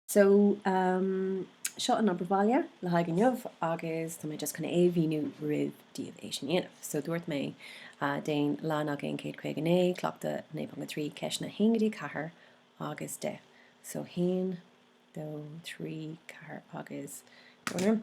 So, seo an obair bhaile le haghaidh inniu agus tá mé just chun é a mhíniú roimh daoibh é sin a dhéanamh. So, dúirt mé déan leathanach aon céad caoga naoi, cleachtadh 9.3, ceisteanna haon go dtí ceathair agus deich. So, haon, dó, trí, ceathair agus dúinn orm.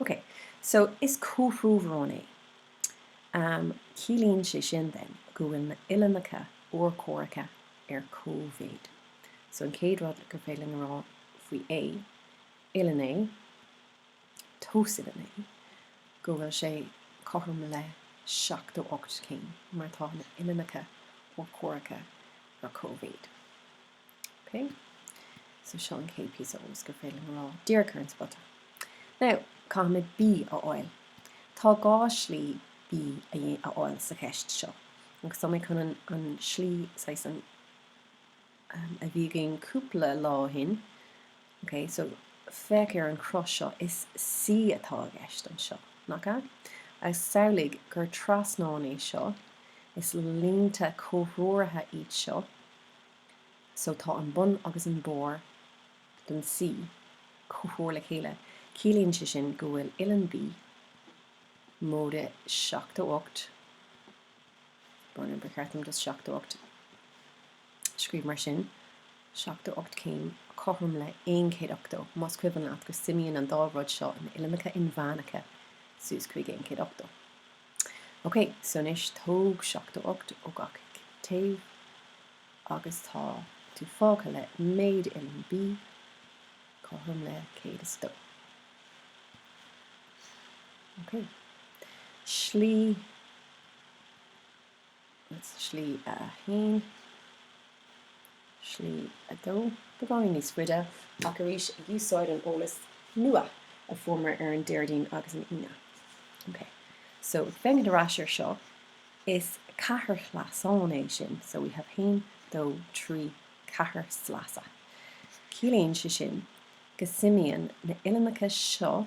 Ok, so is comhthreomharán é. Am, ciallaíonn sé sin then go bhfuil na uillinneacha urchomhaireacha ar cóimhéid. So an chéad rud gur féidir linn a rá faoi A, uillinn A, tomhas uillinn A, go bhfuil sé cothrom le seachtó ocht céim, mar tá na uillinneacha urchomhaireacha ar cóimhéid. Ok, so seo an chéad píosa eolas gur féidir linn a rá díreach ar an spota. Now, caithfimid B a fháil. Tá dhá slí B a fháil sa cheist seo. Agus tá mé chun an slí, saghas an, a bhí againn cúpla lá ó shin, ok, so féach ar an chruth seo, is C atá i gceist anseo, nach ea? Agus samhlaigh gur trasnaí é seo, is línte comhthreomhara iad seo, so tá an bun agus an barr den C comhthreomhar le chéile, ciallaíonn sé sin go bhfuil uillinn B, móide 78 bhuel, ba cheart dom just 78 a scríobh mar sin, 78 céim, cothrom le 180, más cuimhin leat go suimíonn an dá rud seo in uillinneacha inmheánacha suas chuig 180. OK, so anois tóg seachtó ocht ó gach taobh agus tá tú fágtha le méid uillinn B cothrom le céad is dó. OK. Slí. Slí a 1. Slí a 2. Beagáinín níos faide, ach arís ag úsáid an eolas nua a fuaireamar ar an Déardaoin agus an Aoine. Ok. So, féachaint ar ais ar seo, is ceathairshleasán é sin. So, we have 1, 2, 3, ceathair sleasa. Ciallaíonn sé sin go suimíonn na uillinneacha seo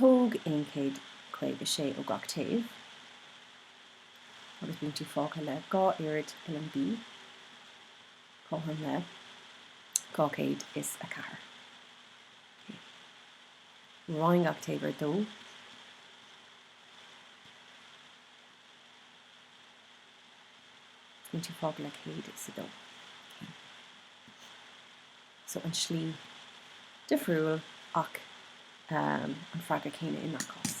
Tóg 156 ó gach taobh agus bíonn tú fágtha le dhá oiread uillinn B, cothrom le 204. Roinn gach taobh ar dó. Bíonn tú fágtha le 102. So an slí difriúil ach an freagra céanna i ngach cás.